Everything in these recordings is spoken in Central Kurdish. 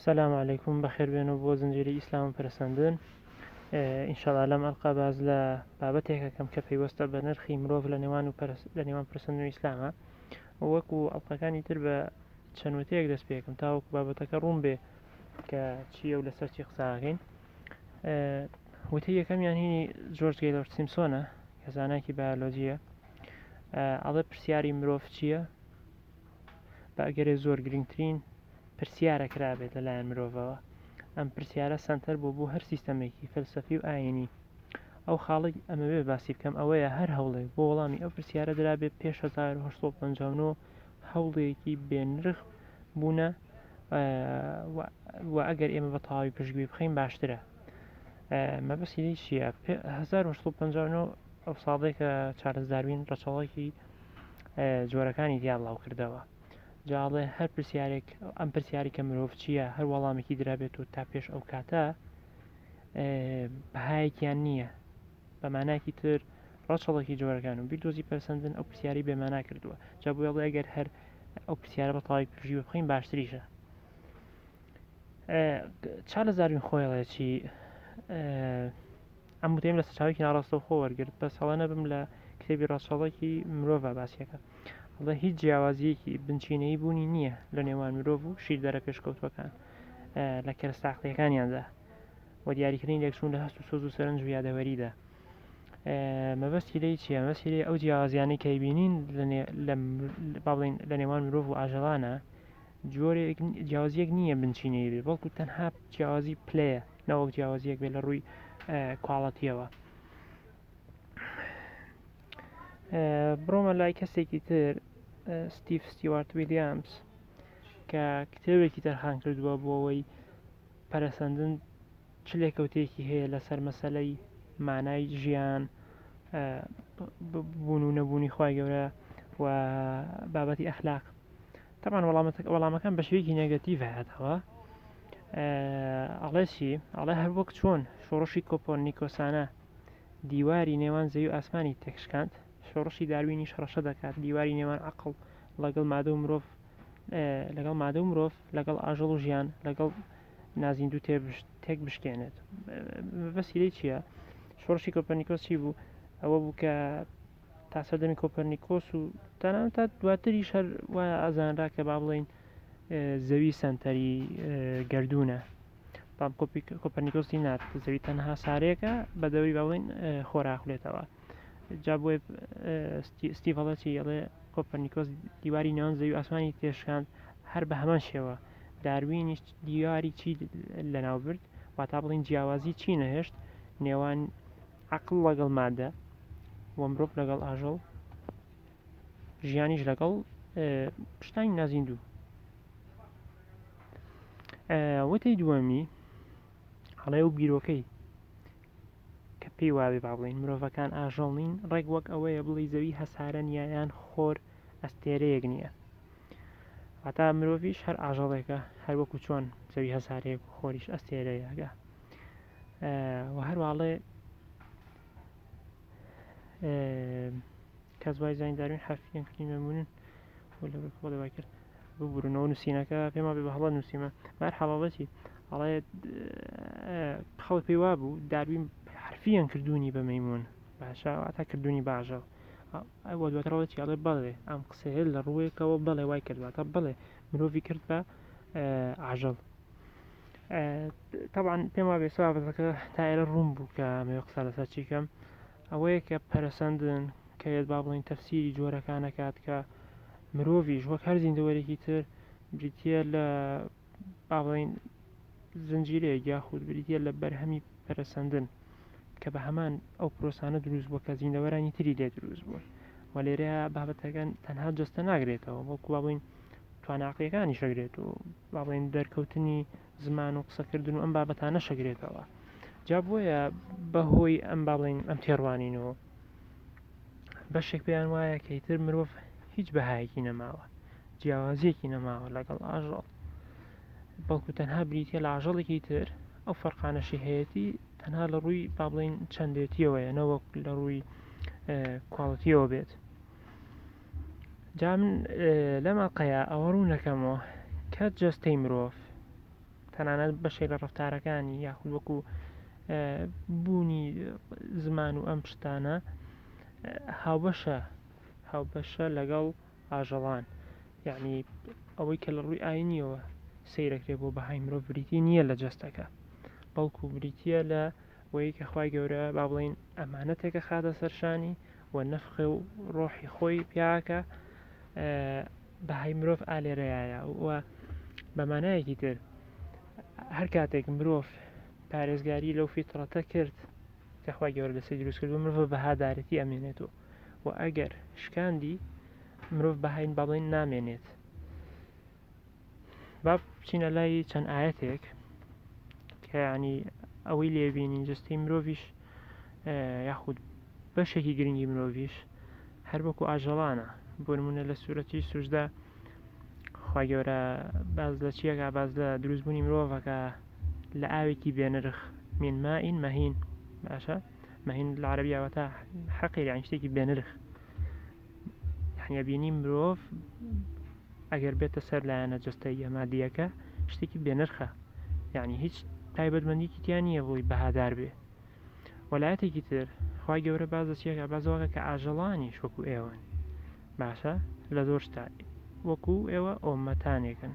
سلام علیکم بەخێربێن و بۆ زنجێری ئیسلام و پرسەندن ئینشاڵا لەم ئەلقا باز لە بابەتێکەکەم کە پەیوەستە بە نرخی مرۆڤ لە نێوان و لە نێوان پرسند و ئیسلامە وەکو ئەڵلقەکانی تر بە چەندوتەیەک دەست پێکم تاوەکو بابەتەکە ڕوون بێ کە چیە و لەسەر چی قساکەین وتی یەکەم یان هینی جۆرج گەیلۆر سیمسۆنە کە زانایکی بایۆلۆجیە ئەڵێ پرسیاری مرۆڤ چییە بە ئەگەرێ زۆر گرنگترین پرسیارە کرابێت لەلایەن مرۆڤەوە ئەم پرسیارە سەنتەر بۆ بۆ هەر سیستەمێکی فەلسەفی و ئاینی ئەو خاڵی ئەمەوێ باسی بکەم ئەوەیە هەر هەوڵێک بۆ وەڵامی ئەو پرسیارە درابێ پێش 1950 هەوڵێکی بێنرخ بوونە و ئەگەر ئێمە بە تەواوی پشتگوێ بخەین باشترە مەبەستی چییە 1950 ئەو ساڵێکە چارلز داروین ڕەچەڵەکی جۆرەکانی تیا بڵاو کردەوە جاڵێ هەر پرسیارێک ئەم پرسیاری کە مرۆڤ چییە هەر وەڵامێکی درابێت و تا پێش ئەو کاتە بەهایەکیان نییە بەماناکی تر ڕەچەڵکی جۆرەکان و بیردۆزی پەرسەندن ئەو پرسیاری بێمانا کردووە جا بۆ ئەڵێ گەر هەر ئەو پرسیارە بە تەواوی پرژی بخۆین باشتریشە چارلزاروین خۆیڵێکی ئەم وتەیەم لە سەرچاوەیەکی ناڕاستەوخۆ وەرگرت بەس هەڵە نەبم لە کتێبی ڕەچەڵەکی مرۆڤا باسیەکا ئەڵێ هیچ جیاوازییەکی بنچینەیی بوونی نییە لە نێوان مرۆڤ و شیردەرە پێشکەوتووەکان لە کەرەستە عەقڵییەکانیاندا و دیاریکردنی لێکچوون لە هەست و سۆز و سەرنج و یادەوەریدا مەبەستی لێی چییە مەبەستی لێ ئەو جیاوازیانەی کە بینین لە بڵین لە نێوان مرۆڤ و ئاژەڵانە جۆرێک جیاوازیەک نییە بنچینەی بێ بەڵکو تەنها جیاوازی پلەیە نەوەک جیاوازیەک بێ لە ڕووی کواڵەتیەوە بڕۆمە لای کەسێکی تر ستیف ستیوارت ویلیامز کە کتێبێکی تەرخان کردووە بۆ ئەوەی پەرەسەندن چ لێکەوتێکی هەیە لەسەر مەسلەی مانای ژیان بوون و نەبوونی خی گەورە و بابەتی ئەخلاق تەبعەن وەڵامەتەکە وەڵامەکان بە شێوەیەکی نێگەتیڤ هاتەوە ئەڵێ چی ئەڵێ هەر وەک چۆن شۆڕشی کۆپۆن نیکۆسانە دیواری نێوان زەوی و ئاسمانی تێکشکاند شۆڕشی داروینی شەڕەشە دەکات دیواری نێوان عقل لەگەڵ مادە و مرۆڤ لەگەڵ مادە و مرۆڤ لەگەڵ ئاژەڵ و ژیان لەگەڵ نازیندوو تێک بشکێنێت بەسیرەی چییە شۆڕشی کۆپەرنیکۆس چی بوو ئەوە بوو کە تا سەردەمی کۆپەرنیکۆس و تەنانەت تا دواتریش هەر وایە ئازانرا کە با بڵین زەوی سنتەری گردونە بەڵام کۆپەرنیکۆسی نات زەوی تەنها سارێکە بە دەوری باڵین خۆراخلێتەوە جا بۆی ستیڤڵەتی ئەڵێ کۆپەرنیکۆس دیواری ناوان زەوی ئاسمانی تێشکاند هەر بە هەمان شێوە داروینیش دیاری چی لەناو برد واتا بڵین جیاوازی چی نەهێشت نێوان عەقڵ لەگەڵ مادە و مرۆڤ لەگەڵ ئاژەڵ ژیانیش لەگەڵ شتانی نازیندوو وتەی دووەمی هەڵێ و بیرۆکەی کە پێی وابێ با بڵین مرۆڤەکان ئاژەڵ نین ڕێک وەک ئەوەیە بڵی زەوی هەسارە نیایان خۆر ئەستێرەیەک نییە هەتا مرۆڤش هەر ئاژەڵێکە هەروەکو چۆن زەوی هەسارەیەک خۆریش ئەستێرەیەگە و هەرواڵێ کەس وای زانین داروین حرفیان کردی مەمونن خۆ دەوای کرد ببوورنەوە نووسینەکە پێما بێ بە هەڵە نووسیمە بار حەڵاڵەتی ئەڵێ خەڵ پێی وا بوو داروین حرفیان کردوونی بە مەمون باشە تا کردوونی باژە ئەوە دواتڕەوەتی ئەڵێ بەڵێ ئەم قسەیە لە ڕووێکەوە بەڵێ وای کردواتە بڵێ مرۆڤی کرد بە ئاژەڵ تەبان پێم وابێ سوابەتەکە تا ئێرە ڕوون بوو کە مێ قسە لەسەر چیکەم ئەوەیە کە پەرسەندن کە یێت با بڵین تەفسیری جۆرەکانەکات کە مرۆڤیش وەک هەر زیندەوەرێکی تر بریتە لە باڵین زنجیرەیە یاخود بریتە لە بەرهەمی پەرسەندن کە بە هەمان ئەو پرۆسانە دروست بووە کە زیندەوەرانی تری لێ دروست بوون وە لێرە بابەتەکان تەنها جستە ناگرێتەوە بەڵکو بڵین توانا عەقڵیەکانیش ئەگرێت و با بڵێین دەرکەوتنی زمان و قسەکردن و ئەم بابەتانەش ئەگرێتەوە جا بۆیە بەهۆی ئەم با بڵێین ئەم تێڕوانینەوە بەشێک پێیان وایە کە ئیتر مرۆڤ هیچ بەهایەکی نەماوە جیاوازیەکی نەماوە لەگەڵ ئاژەڵ بەڵکو تەنها بریتە لە ئاژەڵێکی تر ئەو فەرقانەشی هەیەی تەنها لە ڕووی با بڵین چەندێتیەوەیە نەوەک لە ڕووی کوالڵەتیەوە بێت جا من لەم ئەڵقەیە ئەوە ڕوون دەکەمەوە کە جەستەی مرۆڤ تەنانەت بەشێک لە ڕفتارەکانی یاخود وەکو بوونی زمان و ئەم شتانە هاوبەشە هاوبەشە لەگەڵ ئاژەڵان یعنی ئەوەی کە لە ڕووی ئاینیەوە سیرەکرێ بۆ بەهای مرۆڤ بریتی نییە لە جەستەکە بەڵکو بریتە لە وەی کە خخوای گەورە با بڵین ئەمانەتێکە خاتە سەرشانی و نەفخێ و ڕۆحی خۆی پیاکە بەهای مرۆڤ ئالێرەیە و بەمانایەکی تر هەر کاتێک مرۆڤ پارێزگاری لەو فیتڕەتە کرد کەخوای گەۆر لەسی دروست کرد و مرۆڤ بەهادارەتی ئەمێنێت و و ئەگەر شکاندی مرۆڤ بەهین بەڵێن نامێنێت با بچینە لای چەند ئاەتێک کەیانی ئەوەی لێبینین جستی مرۆڤش یاخود بەشێکی گرنگی مرۆڤش هەر بەکو ئاژەڵانە بۆنمونە لە سوورەتی سوژدا خی گەورە باز لە چیەکە باز لە دروستبوونی مرۆڤەکە لە ئاوێکی بێنرخ مینما ئین مەهین باشە مەهین لە عربیاوەتا حەقی یان شتێکی بێنرخ یعنی ئەبینی مرۆڤ ئەگەر بێتە سەر لایەنە جستەیە مادیەکە شتێکی بێنرخە یعنی هیچ تایبەتمەندیکی تیا نییە بۆی بەهادار بێ وەلایەتێکی تر خی گەورە باز دەچیەکە بازەوەکە کە ئاژەڵانی شوەکو ئێوەن باشە لە زۆر شتا وەکو ئێوە ئۆمەتانێکن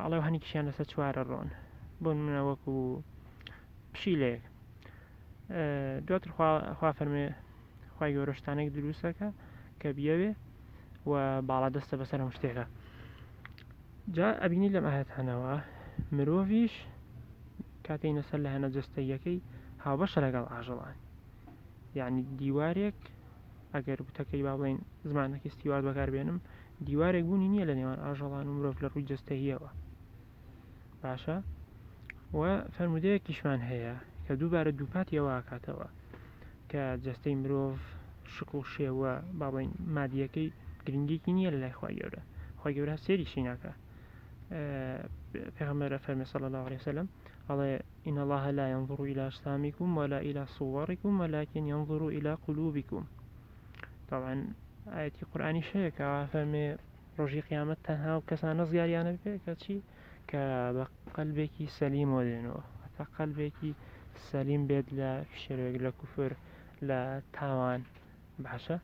ئەڵێ و هەنیکیشیان لەسەر چوارە ڕۆن بۆن منە وەکو پشیلەیەک دواتر خوا فەرمێ خی گەۆرەشتانێک دروستەکە کە بیاوێ و باڵا دەستە بەسەر هەم شتێکە جا ئەبینی لەم ئاهتانەوە مرۆڤش کاتێینە سەر لایەنە جستەیەکەی هاوبەشە لەگەڵ ئاژەڵان یعنی دیوارێک ئەگەر وتەکەی با بڵێین زمانەکی ستیوارد بەکار بێنم دیوارێک بوونی نییە لە نێوان ئاژەڵان و مرۆڤ لە ڕووی جستەییەوە باشە و فەرمودەیەکیشمان هەیە کە دووبارە دووپاتی ئەوواکاتەوە کە جستەی مرۆڤ شکڵ و شێوە باڵین مادیەکەی گرنگێکی نییە لە لای خخوای گەورە خی گەورە سێری شیناکە پێغمەرە فەرمە سەڵ لە وسلم ئەڵێ ان اللە لا ینظر الی اجسامکم ولا الی صورکم ولکن ینظر الی قلوبکم تەبعەن ئایەتی قورئانیش هەیە کە وا فەرمێ ڕۆژی قیامەت تەنها و کەسان نەزگاریانە بێ کەچی کە بە قەلبێکی سەلیمەوە دێنەوە هەتا قەلبێکی سەلیم بێت لە فشەرێک لە کوفر لە تاوان باشە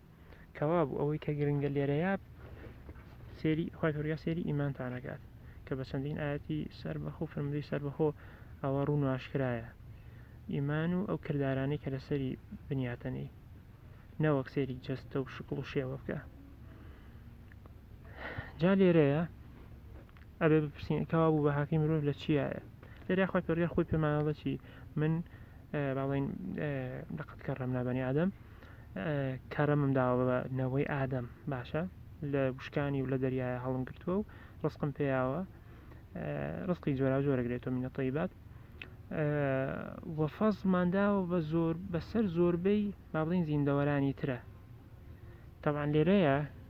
کەوابوو ئەوەی کە گرنگە لێرەیا سێری خی پرگە سێری ئیمانتانەکات کە بە چەندین ئاەتی سەر بەخۆ فرمدەی سەر بەخۆ ئەوە ڕوون واشکرایە ئیمان و ئەو کردارانی کە لەسەری بنیاتەنەی نەوەک سێری جەستە و شکڵ و شێوە بکە جا لێرەیە ئەبێ بپرسین کەوا بوو بە هاکی مرۆڤ لە چیایە لێرە خۆی پێگە خۆی پێمانەڵەتی من باڵین لەقەت کەڕم نابنی ئادەم کەرەمم داوە بە نەوەی ئادەم باشە لە وشکانی و لە دەریایە هەڵم گرتووە و ڕستقم پێیاوە ڕستی جۆرا جۆرەگرێتەوە منە طیبات وەفەزمان داوە بە زۆر بەسەر زۆربەی مابڵین زیندەوەرانی ترە تاوان لێرەیە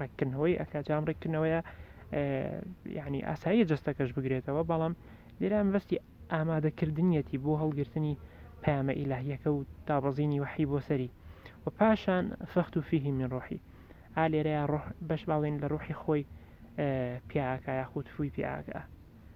ڕێککردنەوەی ئەکا جام ڕێککردنەوەیە یعنی ئاساییە جستەکەش بگرێتەوە بەڵام لێرا مەبەستی ئامادەکردنیەتی بۆ هەڵگرتنی پامە ئیلاهیەکە و دابەزینی وحی بۆ سەری و پاشان فەخت و فیهی من ڕۆحی ئا لێرەیە ڕۆح بەش باڵێن لە ڕوحی خۆی پیاکە یاخود فووی پیاکە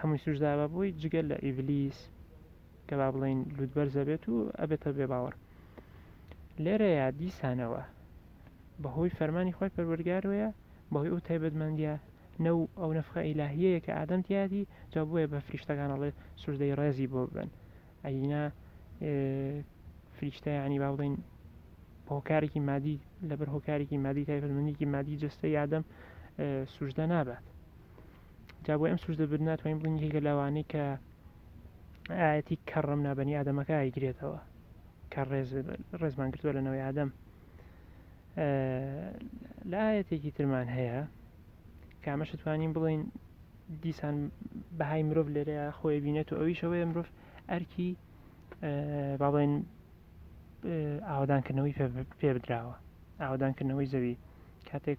هەمووی سوجدا بە بۆی جگە لە ئیبلیس کە با بڵین لوتبەرزە بێت و ئەبێتە بێ باوەڕ لێرەیە دیسانەوە بەهۆی فەرمانی خۆی پەروەرگارەیە بەهۆی ئەو تایبەتمەندیە نەو ئەو نەفخە ئیلاهیەیە کە ئادەم تیاتی جا بۆیە بە فریشتەکانەڵێ سوژدەی ڕێزی بۆ بن ئەینا فریشتە ینی با بڵین هۆکارێکی مادی لەبەر هۆکارێکی مادی تایبەتمەندێکی مادی جستە یادەم سوژدە نابات جا بۆی ئەم سوژدە بردن ناتوانین بڵین یەکێکە لەوانەی کە ئاەتی کەڕم نابنی ئادەمەکە ئایگرێتەوە کە ڕێز ڕێزمان گرتووە لە نەوەی ئادەم لە ئاەتێکی ترمان هەیە کامەش توانین بڵین دیسان بەهای مرۆڤ لێرەیە خۆی بینێت و ئەویشەوەی مرۆڤ ئەرکی با بڵێن ئاوادانکردنەوەی پێ بدراوە ئاوادانکردنەوەی زەوی کاتێک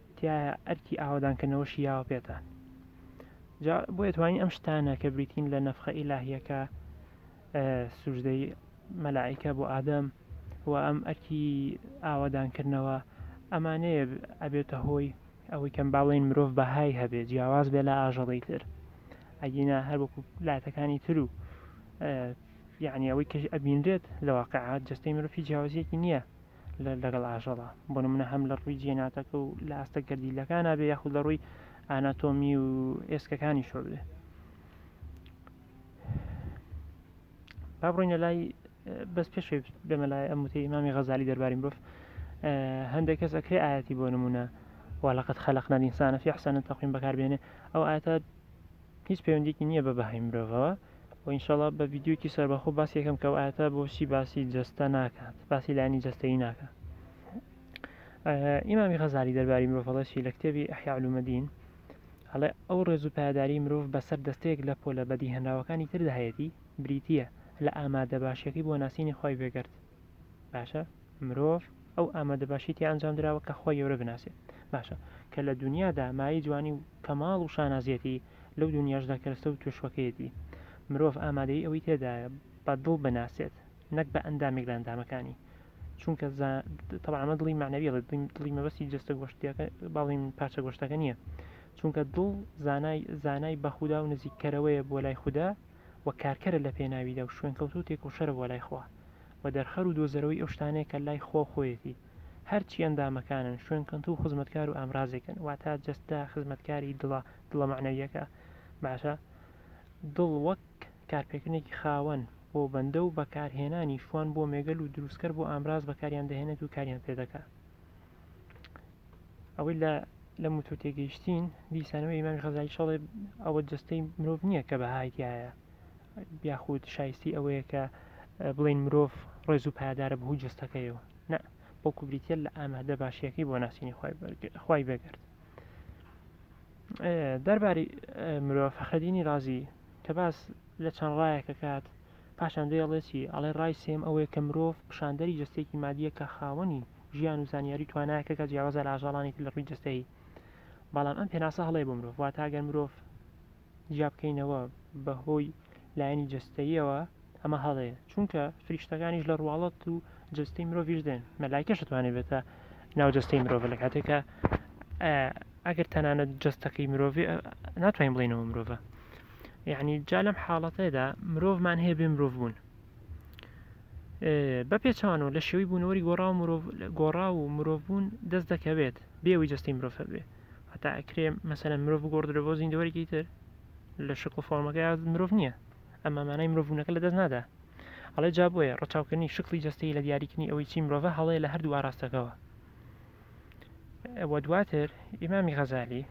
تیایە ئەرکی ئاوەدانکردنەوەشی یاوە پێتان جا بۆیە توانین ئەم شتانە کە بریتین لە نەفخە ئیلاهیەکە سوژدەی مەلائیکە بۆ ئادەم و ئەم ئەرکی ئاوادانکردنەوە ئەمانەیە ئەبێتە هۆی ئەوەی کەم باڵێن مرۆڤ بەهای هەبێت جیاواز بێ لە ئاژەڵی تر ئەگینا هەر وەکو لاتەکانی تر و یعنی ئەوەی کەش ئەبینرێت لە واقعات جستەی مرۆڤی جیاوازیەکی نییە لەگەڵ ئاژەڵە بۆ نمونە هەم لە ڕووی جێناتەکە و لە ئاستە گەردیلەکان بێ یاخود لە ڕووی ئاناتۆمی و ئێسکەکانی شۆ بێ با بڕینە لای بەس پێش بێمە لای ئەم وتی ئمامی غەزاری دەربارین بف هەندێک کەس ئەکرێ ئاەتی بۆ نمونە وەلاقەت خەلق نەدینسانە فی حسانە تەقیم بەکاربێنێ ئەو ئاەتە هیچ پەیوەندیەکی نییە بە بەهای مرۆڤەوە و ئینشاڵا بە ڤیددیوکی سەربەخۆ باسیەکەم کە ئاەتە بۆچی باسی جەستە ناکات باسی لانی جەستەی ناکە ئیمامی غەزاری دەرباری مرۆڤڵەشی لە کتێبی ئەحیعلومەدین هەڵێ ئەو ڕێز و پایداری مرۆڤ بەسەر دەستەیەک لە پۆلە بەدی هەنراوەکانی تردا هەیەی بریتە لە ئامادە باشیەکەی بۆ ناسینی خی بێگەرد باشە مرۆڤ ئەو ئامادە باشیتی ئەنجام دراوە کە خۆی یورە بناسێت باشە کە لە دنیادا مای جوانی و کەماڵ و شانازیەتی لەو دونیاشدا کەرەستە و توێشوەکەیەتی مرۆڤ ئامادەیی ئەوەی تێدایە بە دڵ بناسێت نەک بە ئەندامێک لە ئەندامەکانی چونکە زا تەبعا ئەمە دڵی مەعنەویە دڵی دڵی دڵی مەبەستی جەستە گۆشتیەکە باڵین پارچە گۆشتەکە نییە چونکە دڵ زانای زانای بە خودا و نزیککەرەوەیە بۆ لای خودا و کارکەرە لە پێناویدا و شوێنکەوتوو تێکۆشەرە بۆ لای خوا و دەرخەر و دۆزەرەوەی ئەو شتانەیە کە لای خوا و خۆیەتی هەرچی ئەندامەکانن، شوێنکەنتوو و خزمەتکار و ئامرازێکن، واتە جەستە خزمەتکاری دڵە، دڵە مەعنەوییەکە، باشە، دڵ وەک کارپێکردنێکی خاوەن بۆ بەندە و بەکارهێنانی شوان بۆ مێگەل و دروستکەر بۆ ئامراز بەکاریان دەهێنێت و کاریان پێ دەکا. ئەوەی لە لە موتوو تێگەیشتین، دیسانەوە ئیمامی غەزالی شەڵێ ئەوە جەستەی مرۆڤ نییە کە بەهای تیایە، یاخود شایستەی ئەوەیە کە بڵێین مرۆڤ ڕێز و پایدارە بەهوی جستەکەیەوە نە بەڵکو بریتە لە ئامادە باشیەکەی بۆ ناسینی خی بەگرت دەرباری مرۆڤ فەخردینی رازی کە باس لە چەند ڕایەکە کات پاشان دەیڵێتی ئەڵێ ڕای سێم ئەوەیە کە مرۆڤ پیشاندەری جستێکی مادیە کە خاوەنی ژیان و زانیاری توانایەکە کە جیاوازە لە ئاژاڵانێکی لە ڕووی جستەی بەڵام ئەم پێناسە هەڵەیە بۆ مرۆڤ واتە گەر مرۆڤ جیا بکەینەوە بە هۆی لایەنی جەستەییەوە ئەمە هەڵەیە چونکە فریشتەکانیش لە ڕواڵەت و جەستەی مرۆڤش دێن مەلایکەش دەتوانێت بێتە ناو جەستەی مرۆڤ لە کاتێکە ئەگەر تەنانەت جەستەکەی مرۆڤ ناتوانین بڵێنەوە مرۆڤ یعنی جا لەم حاڵەتەدا مرۆڤمان هەیە بێ مرۆڤ بوون بە پێچوانەوە لە شێوی بوونەوەری گۆڕا و گۆڕا و مرۆڤ بوون دەست دەکەوێت بێەوەی جەستەی مرۆڤ هەبێت هەتا ئەکرێ مەسەرەن مرۆڤ بگۆڕدرێ بۆ زیندەوەرێکی تر لە شکڵ فۆرمەکەی مرۆڤ نییە ئەمە مانای مرۆڤونەکە لە دەست نادا ئەڵێ جا بۆیە ڕچاوکردنی شکلی جستەی لە دیاریکردنی ئەوەی چی مرۆڤە هەڵەیە لە هەردوو ئاراستەکەەوە ئەوە دواتر ئیمامی غەزالی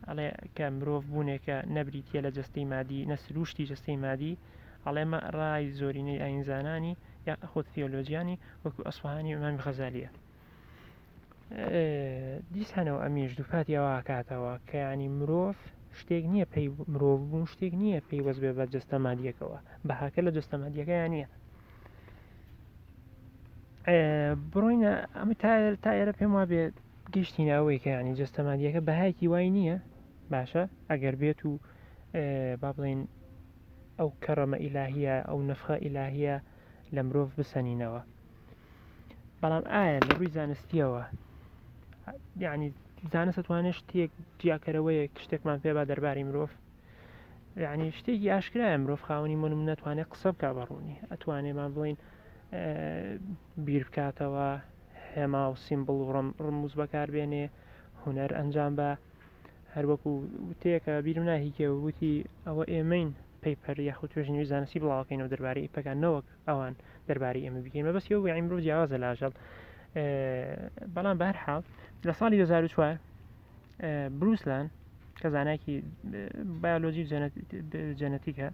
ئەڵێ کە مرۆڤ بوونێکە نەبریتە لە جستەی مادی نەسروشتی جستەی مادی ئەڵێمە ڕای زۆرینەی ئاینزانانی یا خۆت تیۆلۆژیانی وەکو ئەسفهانی ئەمامی غەزالیە دیسانەوە ئەمیش دووپاتی ئەوواکاتەوە کەیانی مرۆڤ شتێک نییە پێی مرۆڤ بوون شتێک نییە پێی وەز بێ بە جستە مادیەکەوە بەهاکە لە جستە مادیەکەیان نییە بڕۆینە ئەمە تا تا ئێرە پێم وابێت گەشتینە ئەوەی کە ینی جستە مادیەکە بەهایکی وای نییە باشە ئەگەر بێت و با بڵین ئەو کەڕەمە ئیلاهە ئەو نفخە ئیلاهە لە مرۆڤ بسەنینەوە بەڵام ئایا لە ڕووی زانستیەوە یعنی زانست توانێت شتێک جیاکەرەوەیە شتێکمان پێ با دەرباری مرۆڤ یعنی شتێکی ئاشکرایە مرۆڤ خاوەنی من ناتوانێت قسە بک بە ڕوونی ئەتوانێمان بڵین بیر بکاتەوە هێما و سیمبڵ و ڕم ڕموز بەکاربێنێ هوەر ئەنجام بە هەروەکو وتەیەکە بیرم ناهیکێ وتی ئەوە ئێمەین پەیپەر یاخود توێژنیوی زانستی بڵاوکەینەوە دەربارەی پەکانەوەک ئەوان دەربارەی ئێمە بگەین مەبەستی ئەو وێعی مرۆڤ جیاوازە لە ئاژەڵ بەڵام بە هەر حاڵ لە ساڵی 2004 بروسلان کە زانایکی بایۆلۆژی جەنەتیکە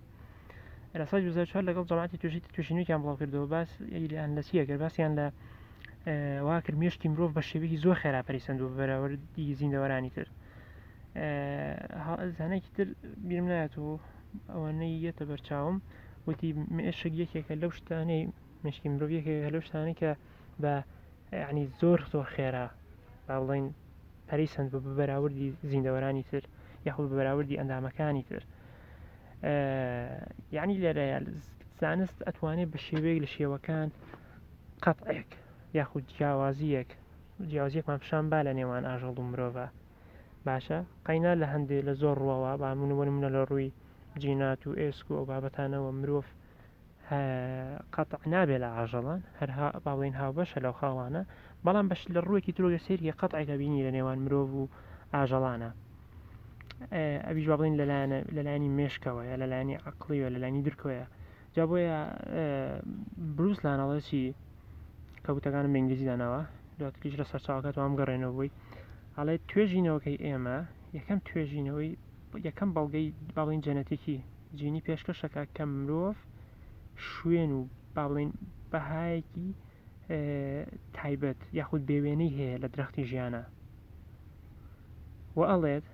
لە سای 2004 لەگەڵ جەماعتی توشی توشینێکیان بڵاو کردەوە باس یان لە سیەکە باسییان لە واکرد مێشتی مرۆڤ بە شێوەیەکی زۆر خێرا پەریسەند و بەراوردی زیندەوەرانی تر زانێکی تر بیرم نایەت و ئەوانەی یەتە بەرچاوم وتی مێشک یەکێکە لەو شتانەی مشکی مرۆڤ یەکێکە لەو شتانەی کە بە ینی زۆر زۆر خێرا با بڵین پەری سند بە بەراوردی زیندەوەرانی تر یاخود بەراوردی ئەندامەکانی تر یعنی لێرەیە زانست ئەتوانێت بە شێوەیەک لە شێوەکان قەتعێک یاخود جیاوازیەک جیاوازیەکمان پیشان با لە نێوان ئاژەڵ و مرۆڤە باشە قەینا لە هەندێ لە زۆر ڕوەوە با من بۆ نمونە لە ڕووی جینات و ئێسک و ئەو بابەتانەوە مرۆڤ هە قەتع نابێ لە ئاژەڵان هەرها با بڵێین هاوبەشە لەو خاڵانە بەڵام بەش لە ڕووێکی ترۆگە سەیری قەتعێکە بینی لە نێوان مرۆڤ و ئاژەڵانە ئەویش با بڵێن لەلایەنە لەلایانی مێشکەوەیە لەلایانی عقلیوە لەلایانی درکۆیە جا بۆیە بروس لان ئەڵێ چی کە وتەکانم بە ئینگلیزی داناوە دواتریش لە سەرچاوەکە توام گەڕێنەوە بووی ئەڵێ توێژینەوەکەی ئێمە یەکەم توێژینەوەی یەکەم بەڵگەی باڵین جەنەتیکی جینی پێشکەشەکە کە مرۆڤ شوێن و باڵین بەهایەکی تایبەت یاخود بێوێنەی هەیە لە درەختی ژیانە و ئەڵێت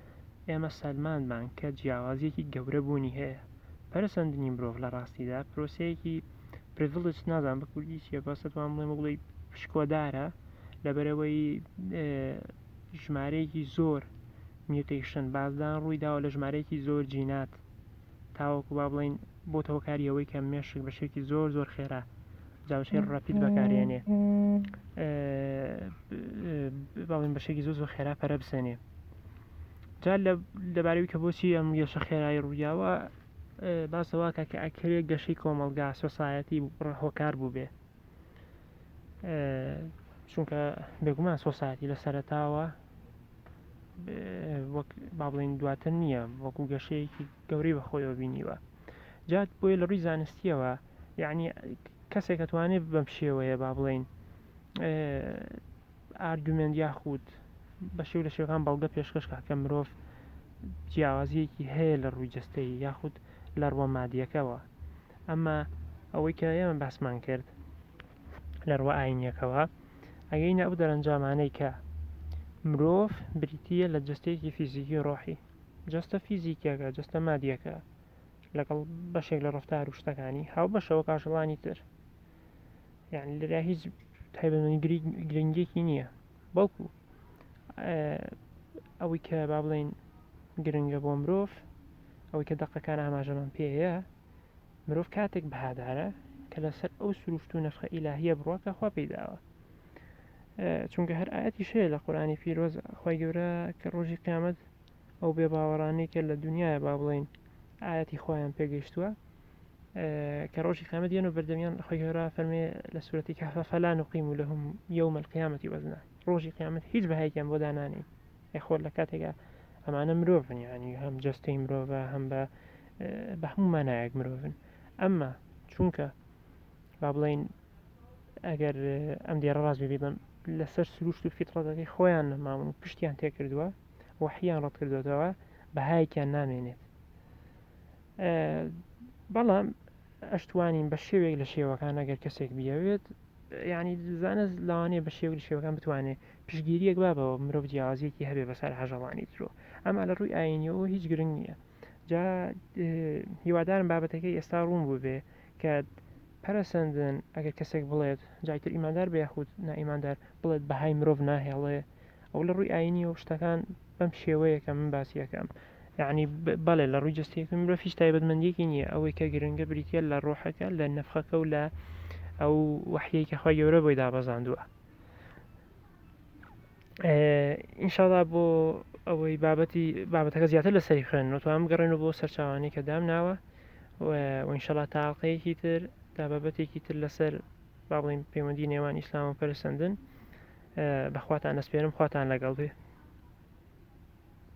ئێمە سەلماندمان کە جیاوازیەکی گەورە بوونی هەیە پەرسەندنی مرۆڤ لە ڕاستیدا پرۆسەیەکی پرڤڵج نازان بە کوردی چیە بەسەتوان بڵێ بڵی پشکۆدارە لەبەرەوەی ژمارەیەکی زۆر میوتیشن بازدان ڕوویداوە لە ژمارەیەکی زۆر جینات تاوەکو با بڵین بۆتە هۆکاری ئەوەی کە مێشک بە شێکی زۆر زۆر خێرا جاوشێ ڕپیت بەکارێنێ باڵین بە شێکی زۆر زۆر خێرا پەرە بسێنێ جا لەبارەوی کە بۆچی ئەم گەشە خێرایی ڕوویاوە باسەوە کە کە ئەکرێ گەشەی کۆمەلگا سۆسایەتی هۆکار بوو بێ چونکە بێگومان سۆسایەتی لە سەرتاوە وەک با بڵین دواتر نییە وەکو گەشەیەکی گەورەی بە خۆیەوە بینیوە جا بۆیە لە ڕووی زانستیەوە یعنی کەسێک ئەتوانێت بەم شێوەیە با بڵین ئارگومنت یاخود بە شێو لە شێوەکان بەڵگە پێشکەش کا کە مرۆڤ جیاوازیەکی هەیە لە ڕووی جستەی یاخود لە ڕوە مادیەکەەوە ئەمە ئەوەی کە ئێمە باسمان کرد لە ڕوە ئاینیەکەوە ئەگەی نە ئەو دەرەنجامانەی کە مرۆڤ بریتە لە جستەیەکی فیزیکی ڕۆحی جەستە فیزیکیەکە، جەستە مادیەکە، لەگەڵ بەشێک لە ڕفتار و شتەکانی هاوبەشەوە کاژەڵانی تر یان لەرا هیچ تایبەتمەنی گرنگێکی نییە بەڵکو ئەوەی کە با بڵین گرنگە بۆ مرۆڤ ئەوەی کە دەقەکان ئاماژەمان پێەیە مرۆڤ کاتێک بەهادارە کە لەسەر ئەو سروشت و نرخە ئیلاهە بڕواکە خوا پێداوە چونکە هەر ئاەتی شەیە لە قورانی پیرۆز خی گەورە کە ڕۆژی قیامەت ئەو بێ باوەڕانەی کە لە دنیاە با بڵین ئاەتی خۆیان پێگەیشتووە کە ڕۆژی قامەت یەن و بەردەمیان خۆی هێرا فەرمێ لە سوەتی کافە فەلان و قیم و لە هم یومە قیامەتی وەزنا ڕۆژی قیامەت هیچ بەهایکیان بۆ دانانی خۆر لە کاتێکا ئەمانە مرۆڤن ینی هەم جستەی مرۆڤە هەم بە بە هەموو مانایەک مرۆڤن ئەمما چونکە با بڵێین ئەگەر ئەم دێڕە ڕاست بێ بم لەسەر سروشت و فیتڕەتەکەی خۆیان نەماون و پشتیان تێکردووە وەحیان ڕەت کردوێتەوە بەهایەکیان نامێنێت بەڵام ئەشتوانین بە شێوێک لە شێوەکان ئەگەر کەسێک بیاوێت ینی دزانە لاوانەیە بە شێوەی شێوەکان بتوانێت پشگیریەک بابەوە مرۆڤ جیازیەکی هەبێ بەسەر هەژەڵانی درۆ ئەما لە ڕووی ئاینیەوە هیچ گرنگ نییە جا هیوادارم بابەتەکەی ئێستا ڕوون بوو بێ کات پەرەسەندن ئەگەر کەسێک بڵێت جای تر ئیماندار بە یاخود نائیماندار بڵێت بەهای مرۆڤ ناهێڵێ ئەو لە ڕووی ئاینی و شتەکان بەم شێوەیەکە من باسیەکەم یعنی بەڵێ لە ڕووی جستەیەکە مرۆڤ هیچ تایبەتمەندیەکی نییە ئەوەی کە گرنگە بریتە لە ڕۆحەکە لە نەفخەکە و لە ئەو وحیەی کە خۆی گەورە بۆی دابەزاندووە ئینشاڵا بۆ ئەوەی بابەتی بابەتەکە زیاتر لە سەری خوێن نوتوان بگەڕێن و بۆ سەرچوانی کە دام ناوە وینشەڵا تااقەیەکی تر تا بابەتێکی تر لەسەر با بڵین پەیوەندی نێوان ئیسلام و پەرسەندن بەخواتان نەسپێرم خواتان لەگەڵ بێ